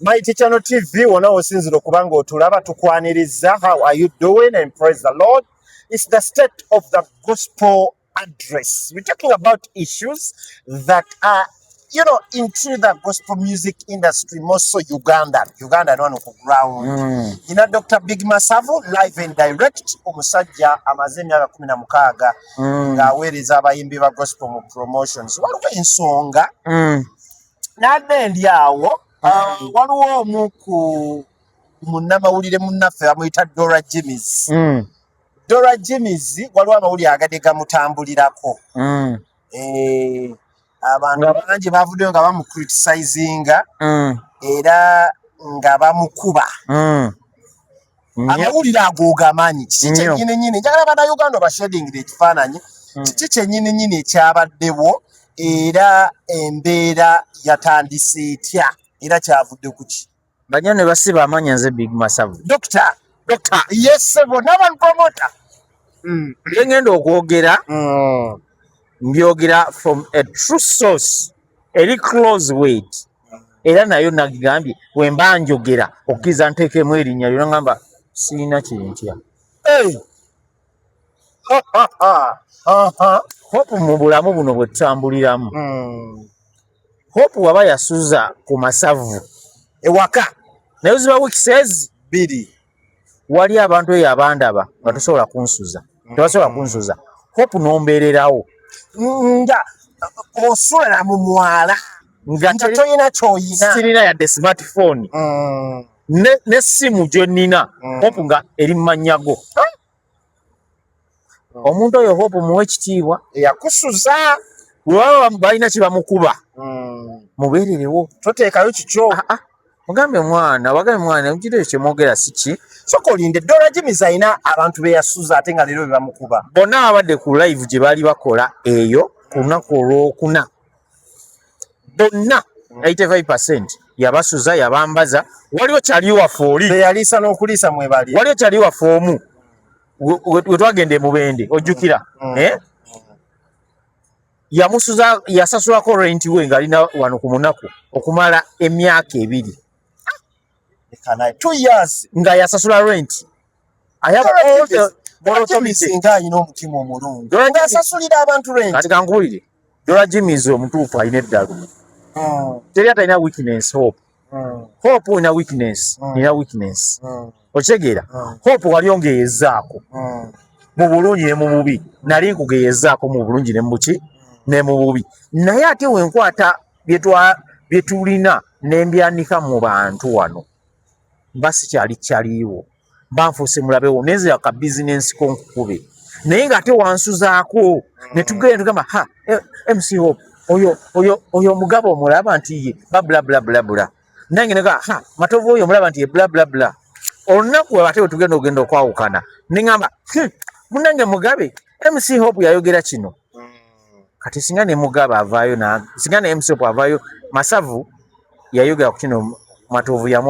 Mighty Channel TV wona osinzira okuba nga otulaba tukwaniriza how are you doing and praise the Lord it's the state of the gospel address we're talking about issues that are you know into the gospel music industry more so Uganda Uganda no ku ground mm. you know Dr. Big Masavo live and direct omusajja amaze emyaka 16 mm. nga aweereza abayimbi ba gospel mu promotions waliwo ensonga mm. nadde ndi awo ah, mm. waliwo omu ku munnamawulire munnaffe bamuyita dora jimis mm. dora jimis waliwo amawulire agade gamutambulirako mm. eh, abantu bangi bavuddeyo nga bamucritisizinga era nga bamukuba mm. amawulire agooga amaanyi kiki kyenyini nyini njagala banauganda bashedingira ekifaananyi mm. kiki kyenyini nyini ekyabaddewo era embeera yatandise etya era kyavudde kuki banya ne basiba amanya nze big masavu dokita dokita yesebo naba promota mm. ngenda okwogera mm. mbyogera from a true source eri close weight era nayo nagigambye wemba njogera okkiza nteekemu erinnya lyona ngamba siina kyentya hope mu bulamu buno bwe tutambuliramu hmm. hope waba yasuza ku masavu ewaka naye ziba wikisezi bbiri wali abantu eyo abandaba nga tosobola kunsuza tebasobola kunsuza hope nombeererawo nga osula mu mwala nga toyina kyoyina sirina yadde smartphone mm. n'essimu gye nnina mm. hope nga eri mu mannya go oh. omuntu oyo hope muwa ekitiibwa eyakusuza webaba balina kyebamukuba hmm. mubeererewo toteekayo kikyo ah, ah. mugambe mwana wagabe mwana mukiro ekyo kyemwogera siki soka olinde dola jimis alina abantu beyasuza ate nga leero bebamukuba bonna ababadde ku live gye baali bakola eyo ku lunaku olwokuna bonna 85% yabasuza yabambaza waliwo kyali waffe oli teyaliisa n'okuliisa mwebali waliwo kyali waffe omu we twagenda emubende ojjukira mm. mm. eh? yamusuza yasasulako renti we ng'alina wano ku munaku okumala emyaka ebiri nga yasasula renti ayaba kankuwulire Dora Jimmy is omutuufu alina eddalu hmm. teri atalina weakness hope hmm. hope olina weakness hmm. nina weakness okitegeera hope wali ongeyezaako mu bulungi ne mu bubi nali nkugeyezaako mu bulungi ne mubuki ne mu bubi naye ate wenkwata byetulina nembyanika mu bantu wano mba sikyali kyaliiwo banfuuse mulabewo nenzira ka bizinensi ko nkukube naye nga ate wansuzaako ne tugenda tugamba ha eh, mc hope oyo oyo oyo omugabo omulaba nti ye babulablabulabula nange nega ha matovu oyo omulaba nti ye blablabla olunaku ate wetugenda ogenda okwawukana neŋamba hmm, munange mugabe mc hope yayogera kino kati singa ne mugabe avaayo singa ne mc hope avaayo masavu yayogera ku kino matovu yamu